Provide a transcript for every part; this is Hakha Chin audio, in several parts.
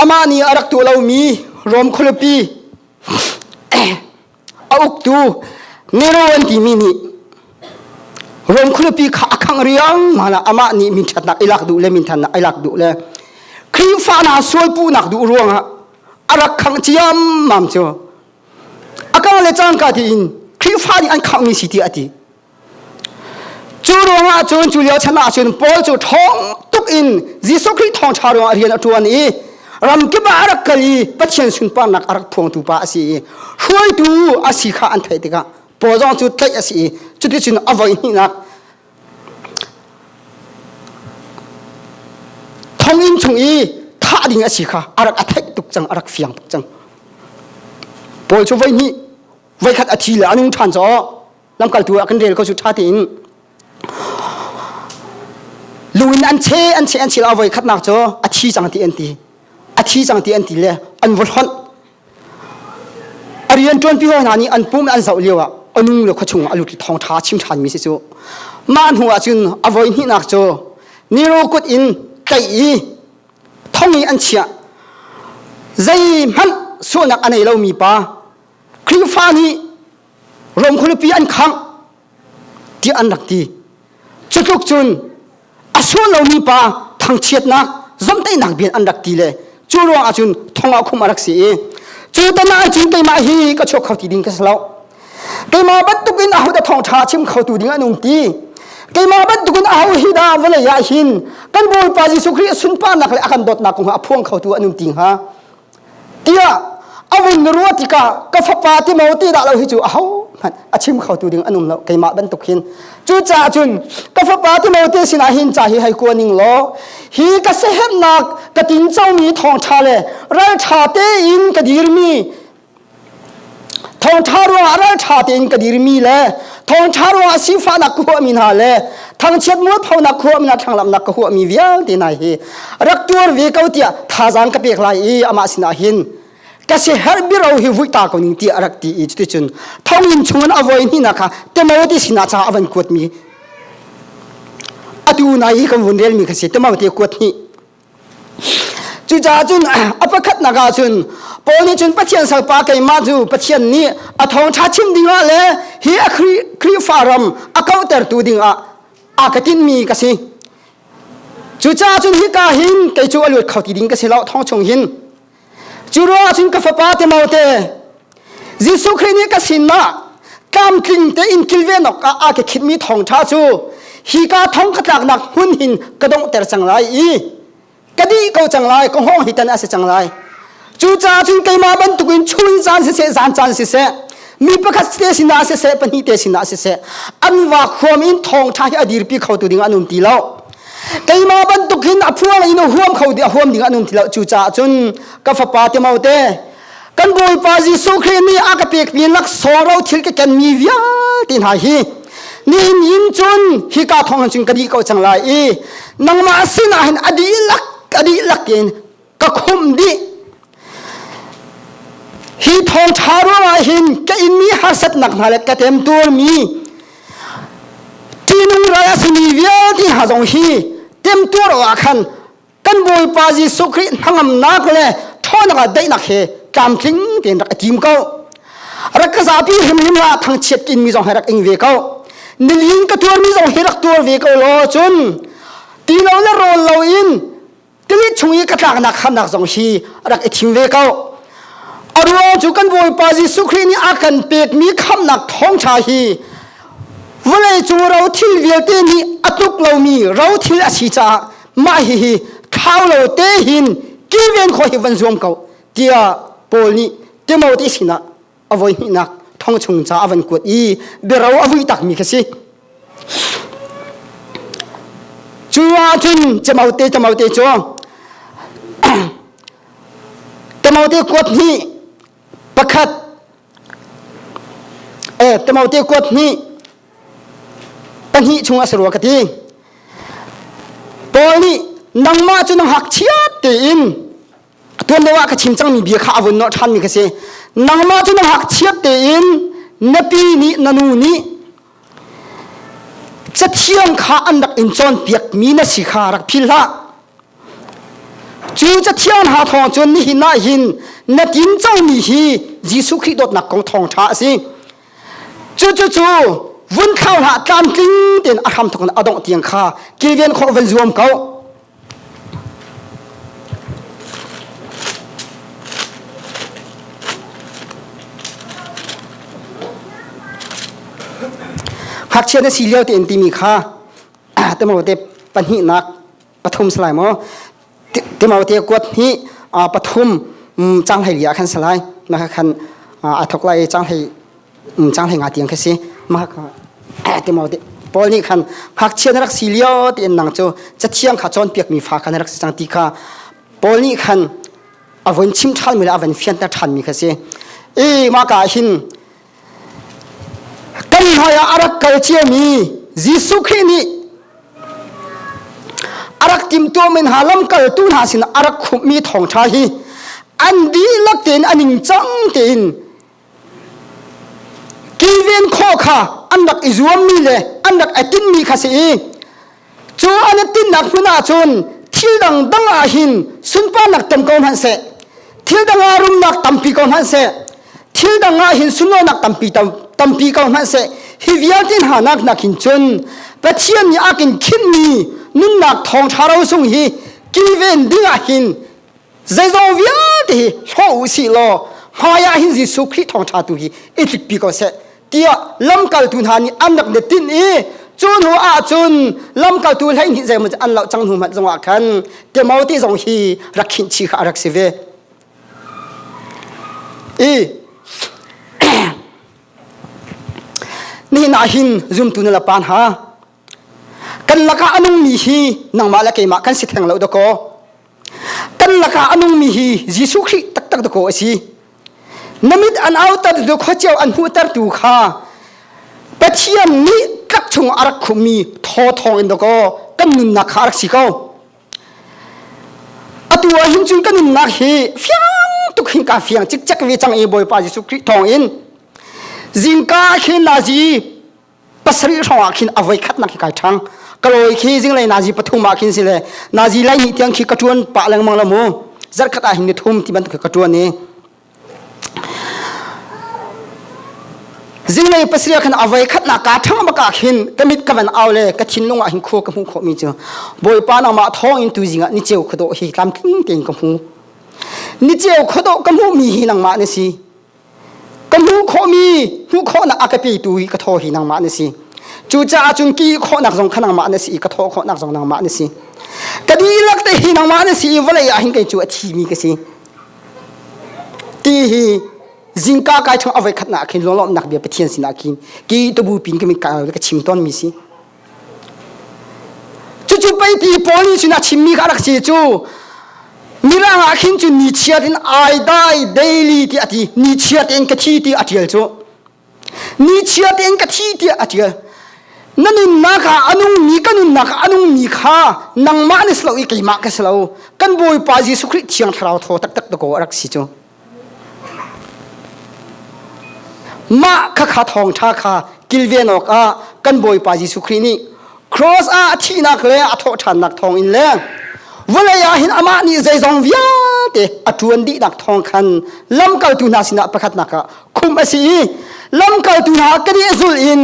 Amah nih a rak tuah lomi Rom khualipi a uktu Nero an timi nih Rom khualipi kha a khangh riangmang ah amah nih minṭhatnak i lak duh le minthannak i lak duh le Khrihfa hna sual puhnak duh ruangah a rak khangh ciammam cu a kang le cangka tiin Khrihfa nih an khangh mi si tiah a ti. Cu ruangah cun cu lio chan ahcun Paul cu ṭhawng tuk in Jesuh Khrih thawngṭha ruangah rian a ṭuan i ramkip ah a rak kal i Pathian sunparnak a rak phuangtu pa a si i hruaitu a si kha an theih tikah Paul zong cu tlaih a si i cuticun a voi hnihnak thonginn chung i thah ding a si kha a rak a theih tuk cang a rak fiang tuk cang Paul cu voi hnih voi khat a thi le a nung ṭhan caw lamkaltu ah kan rel ko cu ṭha tein lu in an che an che an che lo a voi khatnak cu a thi cang ti an ti a thi cang ti an ti le an va hlonh a rian ṭuanpi hawi hna nih an pum an zoh lio ah a nung le khuachung ah a lut thong ṭha chim ṭhan mi si cu mah hnu ah cun a voi hnihnak cu niro kut in tlaih i thong i an chiah zeihmanh sualnak a nei lomi pa Khrihfa nih Rom khualipi an khangh tiah an rak ti. Cutluk cun a sual lomi pa thangchiatnak zomteinak bian an rak ti le cu ruangah cun thongah khum a rak si i cu tan ah cun keimah hi ka chuak kho ti ding ka si lo keimah bantuk in aho dah thawngṭha chim khotu ding an um ti keimah bantuk in aho hi dah vawlei ah hin kan bawipa jesuh khrih a sunparnak le a kan dawtnak kong a phuang khotu an um ti hnga tiah a vun ruah tikah ka fapa ti mo ti dah lo hi cu a ho hmanh a chim kho tu ding an um lo keimah bantuk hin cucaah cun ka fapa ti mo ti sinah hin ca hi hei kua ning law hi ka sehernak ka tinco mi thawngtha le raltha tein ka dirmi thawngṭha ruangah ralṭha tein ka dirmi le thawngṭha ruangah sifahnak ka huahmi hna le thangchiat mualphonak huahmi hna thlanglamnak ka huahmi vialte hna hi rak tuar ve ko tiah thazaang ka pek lai i amah sinah hin ka si herh biro hi vuih ta ko ning tiah a rak ti i cuticun thonginn chungin a voi hnihna kha Timothy sinah ca a van kuatmi atu na i kan vun relmi ka si Timothy kuat hnih Cucaah cun a pakhatnak ah cun Paul nih cun Pathian salpa keimah cu Pathian nih a thawngṭha chim dingah le hi a Khrihfa ram a kauhtertu dingah aa ka tinhmi ka si. Cucaah cun hika hin kei cu a luat kho ti ding ka si lo thong chung hin Cu ruangah cun ka fapa Timote, Jesuh Khrih nih ka sinah tlamtling tein kilven awkah aa ke khitmi thawngṭha cu hi ka thong ka tlaknak hmun hin ka donghter cang lai i ka dih ko cang lai, ka hawng hi tan a si cang lai. Cucaah cun keimah bantukin chungin caan siseh, zan caan siseh, mi pakhat te sinah siseh, pahnih te sinah siseh, an va khuam in thawngṭha hi a dirpi khotu ding an um ti lo. keimah bantuk hin a phuang in a huam kho ti a huam ding an um thilo cu caah cun ka fapa te mau te kan bawipa jesuh khrih nih a ka pek mi lak soro thil ke ken mi vialte hna hi nihin in cun hi ka thong han cun ka di ko chang lai i nangmah sinah hin adi lak adi lak in ka khumh dih hi thawngṭha ruangah hin ka inmi harsatnak hna le ka temtuarmi ṭihnung rai a simi vialte hna zong hi temtuar awah khan kan Bawipa Jesuh Khrih hnangamnak le ṭhawnnak ah daihnak he tlamtling tein rak i tim ko rak ka zapi hrimhrim la thangchiat in mi zong he rak ing ve ko nilin ka tuarmi zong hi rak tuar ve ko law cun ti lo le rawl lo in Kalit chung i ka tlaknak khamnak zong hi rak i thim ve ko. A ruang cu kan Bawipa Jesuh Khrih nih a kan pekmi khamnak thawngṭha hi vawleicung rothil vialte nih a tuk lomi rothil a si caah mah hihi thau lo te hin kilven khawh hi van zuam ko tiah Paul nih Timothy sinah a voi hnihnak thong chung ca a van kuat i biaro a vui takmi kha si cu ahcun camaute camaute cu timote kuat hnih pakhat eh timote kuat hnih pahnih chung a si rua ka ti paul nih nangmah cu na hngakchiat tein tuan lo ah ka chim cangmi bia kha a vun nawh ṭhanmi ka si nangmah cu na ngakchiat tein na pi nih na nu nih cathiang kha an rak in cawnpiakmi na si kha rak phil hlah cu cathiang hna thawng cun nihin ah hin na tin cangmi hi Jesuh Khrih dawtnak kong thawng ṭha a si cucucu vun khau hlah tlamtling tein a hram thawk in a dongh tiang kha kilven khawh van zuam ko Hngakchia na si lio tein timi kha timo te pahnihnak pathum salai maw timo te kuat hnih pathum changhleili ah khan salai maka khan a thok lai changhleili cang hleng a tiang kha si mah ti mo paul nih khan hngakchia na rak si lio ti in nang cu cathiang kha cawn piak mi fa kha na rak si cang ti kha paul nih khan a von chim ṭhan mi le a von fianta ṭhan mi kha si e ma ka hin kan hmai ah a rak kal cia mi Jesuh Khrih nih a rak timtu men ha lam kal tu hna sin a rak khumh mi thawngṭha hi an dihlak tein a ning cang tein kilven khawh kha an rak i zuammi le an rak i tinmi kha si i cu an i tinnak hmun ah cun thil dangdang ah hin sunparnak tam ko hmanh seh thil dang ah rumnak tampi ko hmanh seh thil dang ah hin sunlawinak tampi tampi ko hmanh seh hi vialte hna nak nak hin cun pathian nih a kin khinmi nunnak thawng ṭha ro sung hi kilven ding ah hin zeizong vialte hi hlo u si law hmaiah hin Jesuh Khrih thawngṭha tu hi i tlik pi ko seh tiah lamkaltu hna nih an rak netin i cu hnu ah cun lamkaltu hleihnih zeimah cu an loh cang hnu hmanh zongah khan Timothy zong hi rak khinh kha a rak si ve i nihin ah hin zumtu na la pan ha Kan lakah a nungmi hi nangmah le keimah kan si theng lo dakaw. Kan lakah a nungmi hi Jesuh Khrih taktak dakaw a si. Na mit an autar tu khuaceu an hmuhter tu kha Pathian nih tlak chung a rak khummi thaw thawng in dakaw kan nunnak kha a rak si ko. Atu ah hin cun kan nunnak hi fiang tuk hin ka fiang cikcek ve cang i Bawipa Jesuh Khrih thawng in zingka khin na zi pasarih hrawngah khin avoi khatnak khi kai ṭhang kalawi khi zinglei nazi pathum ah khin si le nazi laihnih tiang khi ka ṭuan pah lengmang la mu zarkhat ah hin ni thum ti bantuk ka ṭuan i zinglei pasarih khan avoi khatnak ka ṭhang baka khin ka mit ka van au le ka thinlung ah hin khua ka hmu khawmi cu bawipa nangmah thawng in tu zingah ni cheu khado hi tlamtling tein ka hmu ni cheu khado ka hmuhmi hi nangmah na si ka hmuh khawhmi hmuh khawhnak a ka petu hi ka thaw hi nangmah na si cucaah cun ki khawhnak zong kha nangmah na si i ka thaw khawhnak zong nangmah na si ka dihlak te hi nangmah na si i vawlei ah hin kei cu a thimi ka si ti hi zingka kai chung a voi khatnak khin lawlawmnak bia pathian sinah khin ki tubu pin ka min ka ka chim tawnmi si Cucu peipi pawl nih cun a chimmi kha a rak si cu Mirang ah khin cu ni chiat in ai dai daily ti a ti ni chiat in ka thi ti a tial cu ni chiat in ka thi ti a tial na nunnak ah a nungmi ka nunnak ah a nungmi kha nangmah na si lo i keimah ka si lo kan bawipa jesuh khrih thiang thlarau thaw taktak to ko a rak si cu mah khakha thawngṭha kha kilven awkah kan Bawipa Jesuh Khrih nih cross ah a thihnak le a thawhṭhannak thawng in le vawlei ah hin amah nih zeizong vialte a ṭuan dihnak thawng khan lamkaltu hna sinah pakhatnak ah khumh a si i lamkaltu hna kan i zul in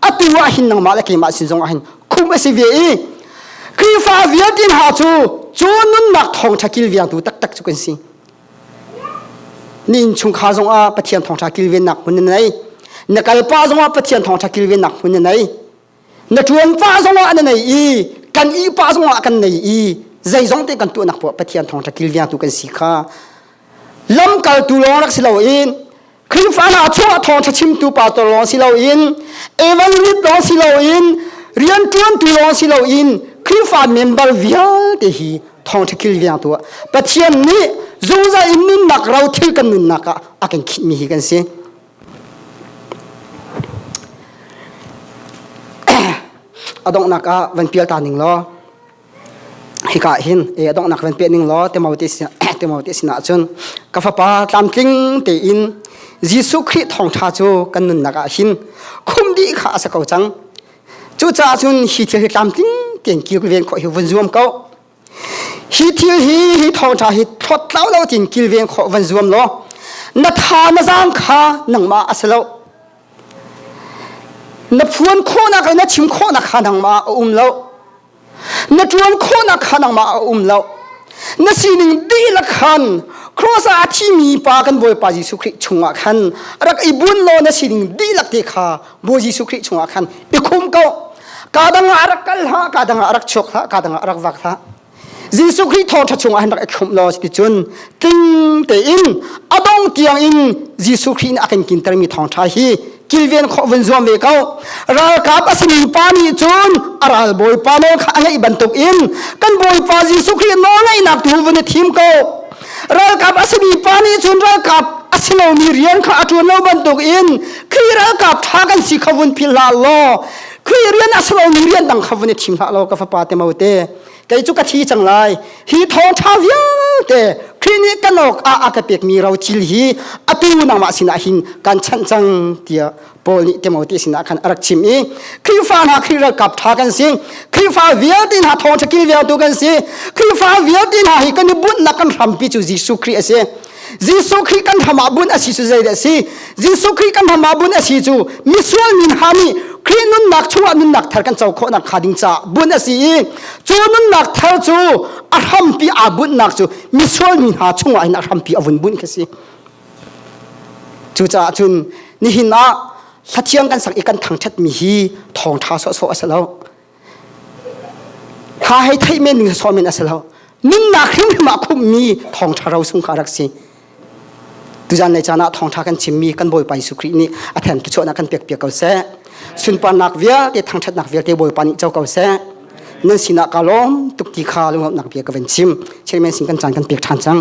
atu ah hin nangmah le keimah sin zongah hin khumh a si ve i Khrihfa vialte hna cu cu nunnak thawngṭha kilvengtu taktak cu kan si Na innchungkhar zongah Pathian thawngṭha kilvennak hmun na nei. Na kalpa zongah Pathian thawngṭha kilvennak hmun na nei. Na ṭuanpa zongah na nei i kan ihpa zongah kan nei i zeizong te kan tuahnak puah Pathian thawngṭha kilvengtu kan si kha lamkaltu lawng rak si loin Khrihfana chuah thawngṭha chimtu pastor lawng si loin evangelist lawng si loin rian ṭuantu lawng si loin Khrihfa member vialte hi thawngṭha kilvengtu ah Pathian nih zungzal in nunnak ro thil kan nunnak ah a kan khihmi hi kan si. a donghnak ah van pial ta ning law hika hin e donghnak ven pe ning law temo ti temo ti sinah cun ka fapa tlamtling tein Jesuh Khrih thawngtha cu kan nunnak ah hin khum dih kha a sa ko cang cucaah cun hi thil hi tlamtling tiang kir ven kho hi vun zuam ko hi thil hi hi thawngtha hi thlawt tlau lo tin kilveng kho van zuam law na tha na zam kha nangma asilo na phuan khawnak le na chim khawnak kha nangma a um lo na ṭuan khawhnak kha nangmah a um lo na sining dihlak khan cross ah a thimi pa kan bawipa Jesuh Khrih chungah khan rak i buan law na sining dihlak te kha Bawi Jesuh Khrih chungah khan i khum ko ka dangah rak kal hlah ka dangah rak chuak hlah ka dangah rak vak hlah Jesuh Khrih thawṭha chungah han rak i khumh law cuticun tling tein a dong tiang in Jesuh Khrih nih a kan kintermi thawngṭha hi kilven khawh vun zuam ve ko ralkap a simi pa nih cun a ral bawipa nawl kha a ngaih bantuk in kan bawipa jesuh khrih nawl ngaihnak tu vun i thim ko ralkap a simi pa nih cun ralkap a si lomi rian kha a ṭuan lo bantuk in khrih ralkap ṭha kan si kha vun philh hlah law khrih rian a si lomi rian dang kha vun i thim hlah law ka fapa te mo te kei cu ka thi cang lai hi thawngtha vialte Khrih nih kan awk ah a ka pekmi ro cil hi atu nangmah sinah hin kan chanh cang tiah Paul nih Timothy sinah khan a rak chim i Khrihfa hna Khrih ralkap ṭha kan si Khrihfa vialte hna thawngṭha kilvialtu kan si Khrihfa vialte hna hi kan i bunhnak kan hrampi cu Jesuh Khrih a si Jesuh Khrih kan hram ah bunh a si cu zeidah si? Jesuh Khrih kan hram ah bunh a si cu misual min ha nih Khrih nunnak chungah nunnak thar kan co khawhnak hnga ding caah bunh a si i cu nunnak thar cu a hrampi aa bunhnak cu misual mi hna chungah hin a hrampi a vun bunh khi si. Cucaah cun nihin ah hlathiang kan sak i kan thangṭhat mi hi thawng ṭha sawhsawh a si lo. Hla hei theih men ning so men asilo. Nunnak hrimhrim ah khummi thawngtha ro sung kha rak si. Tuzan nei cana thawngtha kan chimmi kan bawipa Yesu Khrih nih a then tu chuana kan pek pek ko se. Sunparnak vialte thangthatnak vialte bawipa nih cho ko se. Nan sinah ka lawm tuk ti kha lungawmnak bia ka ven chim. Chirmen sin kan chan kan pek than chang.